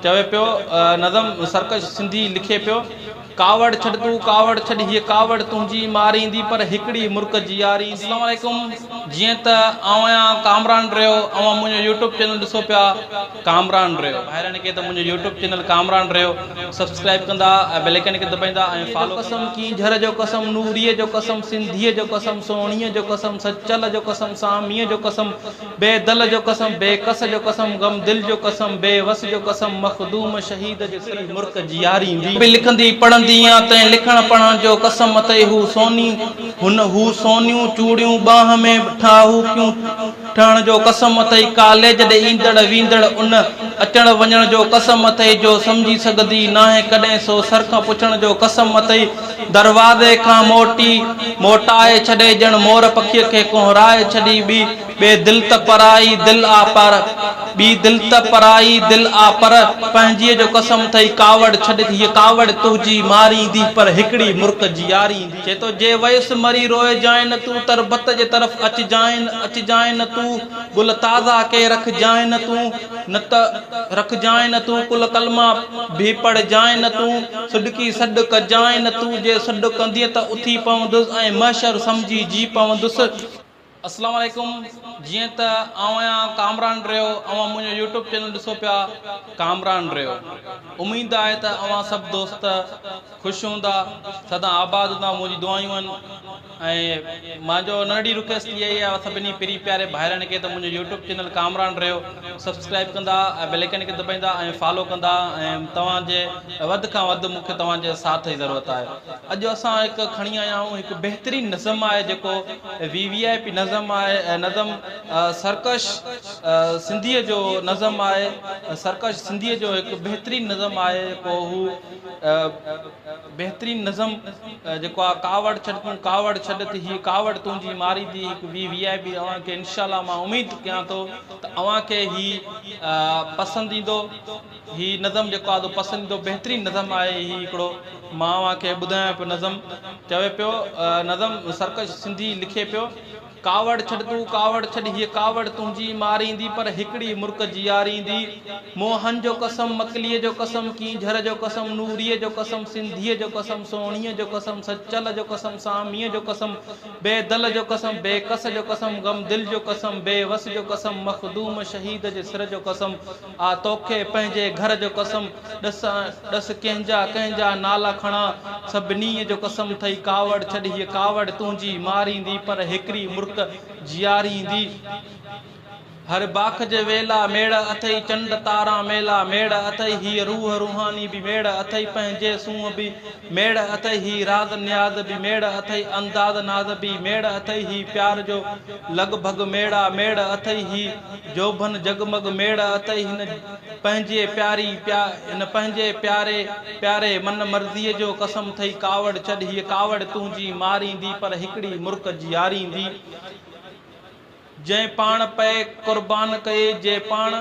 چوي پيو نظم سرڪش سنڌي لکي پيو ڪاوڙ ڇڏ تون ڪاوڙ ڇڏ هيء ڪاوڙ تنهنجي ماريندي پر هڪڙي مرڪ جياريندي. السلام عليڪم جيئن ته آئون آهيان ڪامران ريو اوهان منهنجو يوٽيوب چينل ڏسو پيا ڪامران ريو ڀائرن کي ته منهنجو يوٽيوب چينل ڪامران ريو سبسڪرائب ڪندا ۽ بيل آئيڪن کي دٻائيندا ۽ فالو ڪندا. قسم ڪينجهر جو قسم نوريء جو قسم سنڌيء جو قسم سهڻيء جو قسم سچل جو قسم ساميء جو قسم بي دل جو قسم، بي ڪس جو قسم، غم دل جو قسم، بي وس جو قسم، مخدوم شهيد جي سري مرڪ جياريندي. به لکندي پڙهندي يا تنهن لکڻ پڙهڻ جو قسم اٿئي هو سوني هن هو سونيون چوڙيون ٻانهن ۾ ٺاهوڪيون ٺهڻ جو قسم اٿئي ڪاليج ڏي ايندڙ ويندڙ ان اچڻ وڃڻ جو قسم اٿئي جو سمجهي سگهندي ناهي ڪڏهن سو سر کان پڇڻ جو قسم اٿئي دروازي کان موٽي، موٽائي ڇڏي ڄڻ مور پکيء کي ڪونهرائي ڇڏي ٻي، ٻي دل ته پرائي دل آ پر، ٻي دل ته پرائي دل آ پر، پنهنجيء جو قسم ٿئي ڪاوڙ ڇڏ ته هيء ڪاوڙ تنهنجي ماريندي پر هڪڙي مرڪ جياريندي. چي ٿو جي ويس مري روئجانء نه تون تربت جي طرف اچجانء نه اچجانء نه تون گل تازا ڪي رکجانء نه تون. نه ته رکجانء نه تون ڪل ڪلما به پڙهجانء نه تون سڏڪي سڏ ڪجانء نه تون جي سڏ ڪندينء ته اٿي پوندس ۽ محشر سمجهي جي پوندس. السلام عليڪم جيئن ته آئون آهيان ڪامران ريو اوهان منهنجو يوٽيوب چينل ڏسو پيا ڪامران ريو اميد آهي ته اوهان سڀ دوست خوش هوندا سدا آباد هوندا منهنجي دعايون آهن. ۽ مانجو ننڍڙي رڪيسٽ اها ئي آهي سڀني پري پياري ڀائرن کي ته منهنجو يوٽيوب چينل ڪامران ريو سبسڪرائب ڪندا ۽ بيل آئيڪن کي دٻائيندا ۽ فالو ڪندا ۽ توهان جي وڌ کان وڌ مونکي توهان جي ساٿ جي ضرورت آهي اڄ اسان هڪ کڻي آيا آهيون هڪ بهترين نظم آهي جيڪو وي وي آئي پي نظم آهي ۽ نظم سرڪش سنڌي جو نظم آهي سرڪش سنڌي جو هڪ بهترين نظم آهي جيڪو هو بهترين نظم جيڪو آ ڪاوڙ ڇڏ تون ڪاوڙ ڇڏ ته هي ڪاوڙ تنهنجي ماري دي هڪ وي وي آئي پي اوهان کي انشاء الله مان اميد ڪيان ٿو ته اوهان کي هي پسند ايندو هي نظم جيڪو آ پسند ايندو بهترين نظم آهي هي هڪڙو مان اوهان کي ٻڌايان پيو نظم چوي پيو نظم سرڪش سنڌي لکي پيو ڪاوڙ ڇڏ تون ڪاوڙ ڇڏ هيء ڪاوڙ تنهنجي ماريندي پر هڪڙي مرڪ جياريندي موهن جو قسم مڪليء جو قسم ڪينجهر جو قسم نوريء جو قسم سنڌيء جو قسم سهڻيء جو قسم سچل جو قسم ساميء جو قسم بي دل جو قسم بي ڪس جو قسم غمدل جو قسم بي وس جو قسم مخدوم شهيد جي سر جو قسم آء توکي پنهنجي گهر جو قسم ڏس ۽ ڏس ڪنهن جا ڪنهن جا نالا کڻان. سڀنيء جو قسم اٿئي ڪاوڙ ڇڏ هيء ڪاوڙ تنهنجي ماريندي پر هڪڙي مرڪ جياريندي. هر باک جي ويلا ميڙ اٿئي چنڊ تارا ميلا ميڙ اٿئي هيء روح روحاني به ميڙ اٿئي پنهنجي سونهن به ميڙ اٿئي هي راز نياز به ميڙ اٿئي انداز ناز به ميڙ اٿئي هي پيار جو لڳ ڀڳ ميڙا ميڙ اٿئي هي جوڀن جڳمڳ ميڙ اتئي هن پنهنجي پياري پيا هن پنهنجي پياري پياري من مرضيء جو قسم ٿئي ڪاوڙ ڇڏ هيء ڪاوڙ تنهنجي ماريندي پر هڪڙي مرڪ جياريندي جنهن پاڻ پئي قربان ڪئي جي پاڻ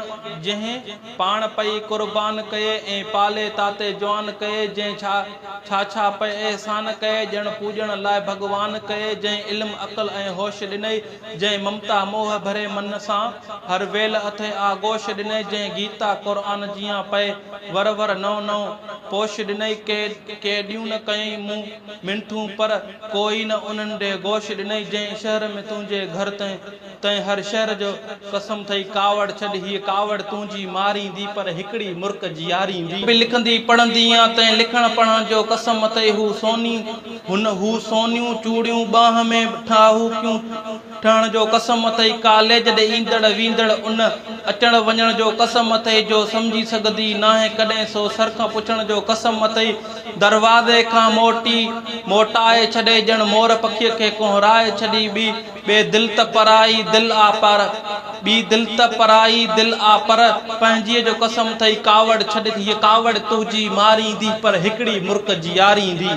جنهن پاڻ پئي قربان ڪئي ۽ پالي تاتي جوان ڪئي جنهن ڇا ڇا ڇا پئي احسان ڪئي ڄڻ پوڄڻ لاء ڀڳوان ڪئي جنهن علم عقل ۽ هوش ڏنئي جنهن ممتا موهه ڀري من سان، هر ويل اٿئي آغوش ڏنئي جنهن گيتا قرآن جيان پئي ور ور نئون نئون پوش ڏنئي ڪي ڪي ڏيون نه ڪيئي مون منٺون پر ڪوئي نه انهن ڏي گوش ڏنئي جنهن شهر ۾ تنهنجي گهر تنهن تنهن هر شهر جو قسم ٿئي ڪاوڙ ڇڏ هيء ڪاوڙ تنهنجي ماريندي پر هڪڙي مرڪ جياريندي. به لکندي پڙهندي يا تنهن لکڻ پڙهڻ جو قسم اٿئي هو سوني. هن هو سونيون چوڙيون ٻانهن ۾ ٺاهوڪيون ٺهڻ جو قسم اٿئي، ڪاليج ڏي ايندڙ ويندڙ ان اچڻ وڃڻ جو قسم اٿئي جو سمجهي سگهندي ناهي ڪڏهن سو سر کان پڇڻ جو قسم اٿئي، دروازي کان موٽي موٽائي ڇڏي ڄڻ مور پکيء کي ڪونهرائي ڇڏي ٻي ٻي دل ته پرائي دل آ پر. ٻي دل ته پرائي دل آ پر. پنهنجيء جو قسم ٿئي ڪاوڙ ڇڏ ٿي هيء ڪاوڙ تنهنجي ماريندي پر هڪڙي مرڪ جي ياريندي.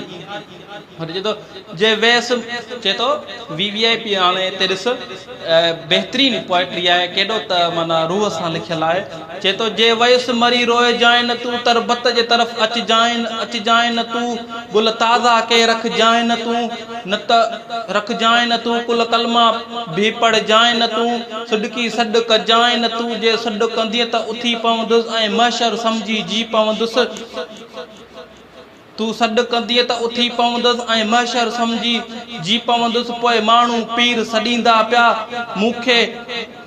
هن چيو ته جي ويس چي ٿو وي وي آء پي هاڻي هتي ڏس بهترين پوئٽري آهي ڪيڏو ته معنيٰ روح سان لکيل آهي چي ٿو جي ويس مري روئجانء نه تون تربت جي طرف اچجانء نه اچجانء نه تون گل تازا ڪي رکجانء نه تون نه ته رکجانء نه تون ڪل ڪلما به پڙهجانء نه تون سڏڪي سڏ ڪجانء نه تون جي سڏ ڪندينء ته اٿي پوندس ۽ محشر سمجهي جي پوندس تون سڏ ڪندينء ته اٿي پوندس ۽ محشر سمجهي جي پوندس پوء ماڻهو پير سڏيندا پيا مون کي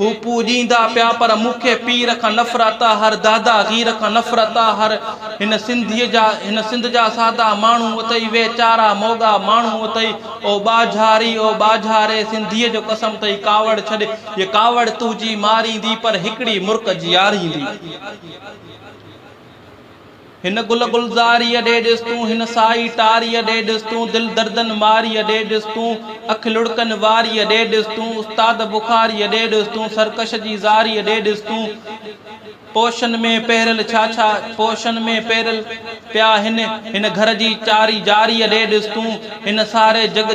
هو پوڄيندا پيا پر مون کي پير کان نفرت آ هر دادا غير کان نفرت آ هر هن سنڌيء جا هن سنڌ جا سادا ماڻهو اٿئي ويچارا موڳا ماڻهو اٿئي او ٻاجهاري او ٻاجهاري سنڌيء جو قسم اٿئي ڪاوڙ ڇڏ هيء ڪاوڙ تنهنجي ماريندي پر هڪڙي مرڪ جياريندي. هن گل گلزاريء ڏي ڏس تون، هن سائي ٽاريء ڏي ڏس تون، دل دردن ماريء ڏي ڏس تون، اک لڙڪن واريء ڏي ڏس تون، استاد بخاريء ڏي ڏس تون، سرڪش جي زاريء ڏي ڏس تون، پوشن ۾ پهريل ڇا ڇا پوشن ۾ پهريل پيا هن، هن گهر جي چاري جاريء ڏي ڏس تون، هن ساري جڳ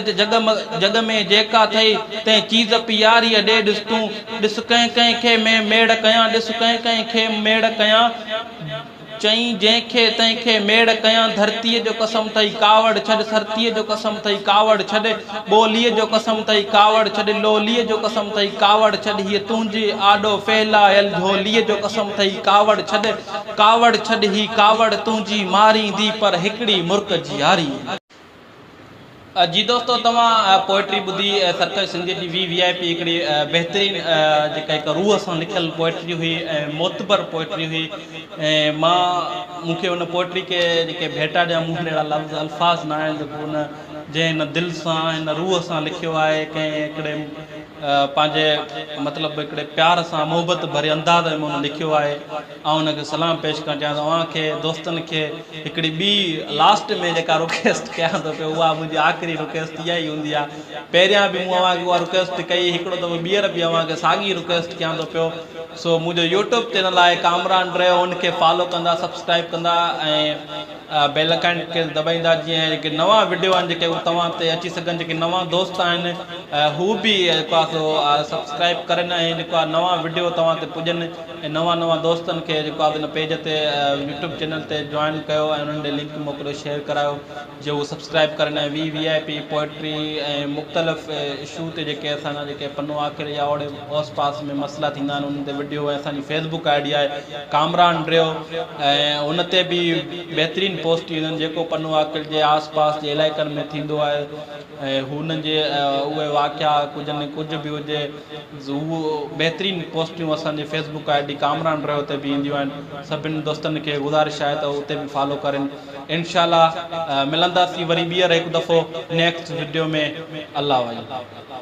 جڳ ۾ جيڪا ٿئي تنهن چيز پياريء ڏي ڏس تون، ڏس ڪنهن ڪنهن کي مين ميڙ ڪيان، ڏس ڪنهن ڪنهن کي ميڙ ڪيان. چئين جنهن کي تنهن کي ميڙ ڪيان ڌرتيء جو قسم اٿئي ڪاوڙ ڇڏ سرتيء جو قسم اٿئي ڪاوڙ ڇڏ ٻوليء جو قسم اٿئي ڪاوڙ ڇڏ لوليء جو قسم اٿئي ڪاوڙ ڇڏ هيء تنهنجي آڏو ڦهلايل جهوليء جو قسم اٿئي ڪاوڙ ڇڏ ڪاوڙ ڇڏ هي ڪاوڙ تنهنجي ماريندي پر هڪڙي مرڪ جي ياريء جي دوستو توهان پوئٽري ٻڌي سرڪش سنڌيء جي وي وي آء پي هڪڙي بهترين جيڪا هڪ روح سان لکيل پوئٽري هئي ۽ معتبر پوئٽري هئي مان مون کي ان پوئٽري کي جيڪي ڀيٽا ڏيان مون وٽ اهڙا لفظ الفاظ نه آهن جيڪو ان جنهن هن دل سان هن روح سان لکيو آهي ڪنهن هڪڙي پنهنجي مطلب هڪڙي پيار سان محبت ڀري انداز ۾ هن لکيو آهي آئون هن کي سلام پيش ڪرڻ چاهيان ٿو اوهان کي دوستن کي هڪڙي ٻي لاسٽ ۾ جيڪا رڪيسٽ ڪيان ٿو پيو اها منهنجي آخري رڪيسٽ اها ئي هوندي آهي پهريان به مون اوهان کي اها رڪيسٽ ڪئي هڪڙو دفعو ٻيهر به اوهان کي ساڳي رڪيسٽ ڪيان ٿو پيو سو منهنجو يوٽيوب چينل آهي ڪامران ڊريو ان کي فالو ڪندا سبسڪرائب ڪندا ۽ بيل ائڪن کي دٻائيندا جيئن اهي جيڪي نوان وڊيو آهن جيڪي هو توهان تي اچي سگهن جيڪي نوان دوست آهن هو به جيڪو آهي سو سبسڪرائب ڪرن ۽ جيڪو آهي نوان وڊيو توهان تي پڄن ۽ نوان نوان دوستن کي جيڪو آهي ان پيج تي يوٽيوب چينل تي جوائن ڪيو ۽ انهن ڏي لنڪ موڪليو شيئر ڪرايو جيئن هو سبسڪرائب ڪرن ۽ V V I P poetry ۽ مختلف اشو تي جيڪي اسان جا جيڪي پنو آخر يا اوڙي اوس پاس ۾ مسئلا ٿيندا آهن انهن تي وڊيو ۽ اسان جي فيس بڪ آء ڊي آهي ڪامران ڊريو ۽ ان تي به بهترين پوسٽ ايندن جيڪو پنو عاقل جي آس پاس جي علائقن ۾ ٿيندو آهي ۽ هن جي اهي واقعا ڪجهه نه ڪجهه به هجي هو بهترين پوسٽيون اسان جي Facebook I D Kamran ڊريو تي به اينديون آهن سڀن دوستن کي گذارش آهي ته اتي به فالو ڪرين انشاء الله ملنداسين وري ٻيهر هڪ دفعو نيڪسٽ وڊيو ۾ الله وعلم.